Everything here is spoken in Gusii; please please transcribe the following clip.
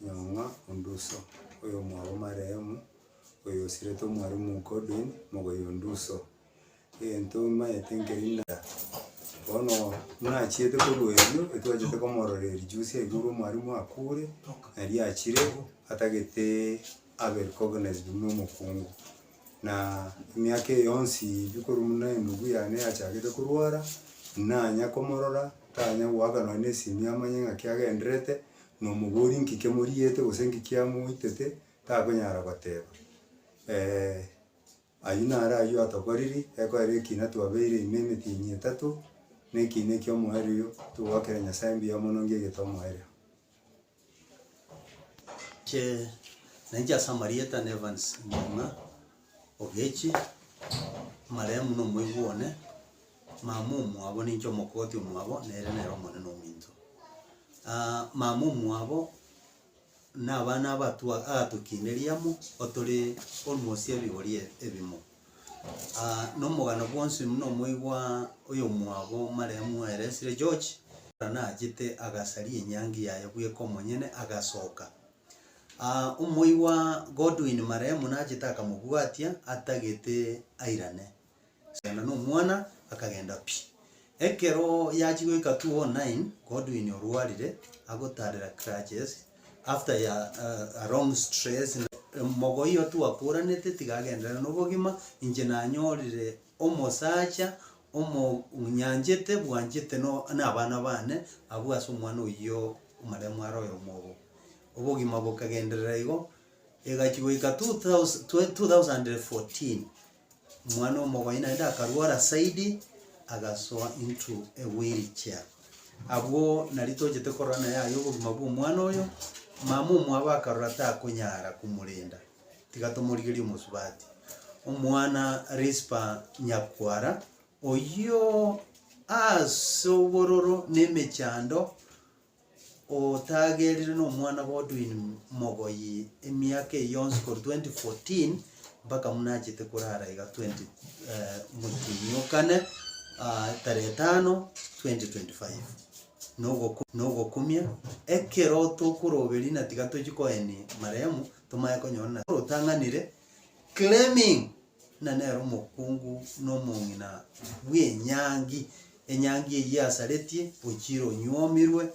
Nyong'a Onduso, oyomwabo Marehemu, oyo osiretwe Mwalimu Godwin Mogoya Onduso. Egento maete nkeri na bono nachiete korwa erio etwachete komororeria juzi aye korwa omwalimu akure, naria achire atagete abe recognized buna omokungu. Na emiaka eye yonsi ebi korwa buna endugu yane yachakete korwara, nanya komorora, tanya goaka nonye na esimi amanye ng'aki agendererete. Nomobori nki kemoriete gose nki kiamoitete, takonyara goteba, ayio naro ayio atokoriri, ekoera ekina twabeire ime emetienyi etato, na ekina ekio omoerio togoakera Nyasaye mbuya mono nge gete omoerio. Inche nainche ase amarieta na Evans Murima. Ogechi, amarehemu nomoigwa one, mama omwabo ninche omokoti omwabo, nere nere omonene ominto. Aa mama omwabo na abana abatu agatokineria amo otore almost ebigori ebimo. Aa na omogano bwonsi buna omoigwa oyomwabo marehemu Waelesire George, naro nachete agasaria enyangi yaye bweka omonyene agasoka. Omoigwa Godwin marehemu nachete akamobwatia atagete airane. Agenda nomwana akagenda pi. Ekero yachia goika 2009 Godwin orwarire agotarera crutches after ya a long stress. Mogoia oyo twakoranete tiga agenderere nobogima inche nanyorire omosacha omonyanchete bwanchete na abana bane abwo ase omwana oyio omarehemu are oyomo obo. obogima bokagenderera igo, egachia goika two thous twe two thousand and fourteen, omwana omogoyi naende akarwara zaidi, agasoa into a wheel chair. Abwo nari tochete korora naye aye obogima bwa omwana oyo, mama omwabo akarora takonyara komorenda, tiga tomorigerie omosubati. Omwana Rispa Nyakwara, oyio ase obororo na emechando. otagerire nomwana Godwin Mogoyi emiaka eye yonsi korwa 2014 mpaka buna achete korara iga 20 eh, motienyi o kane ah, tarehe tano 2025 Nogoku- nogokumia ekero tokoroberia na tiga tochi koenia marehemu tomaye konyora na- rotang'anire claiming buna nere omokungu na omong'ina bw'enyangi, enyangi eyio yasaretie ochire onyuomirwe, na.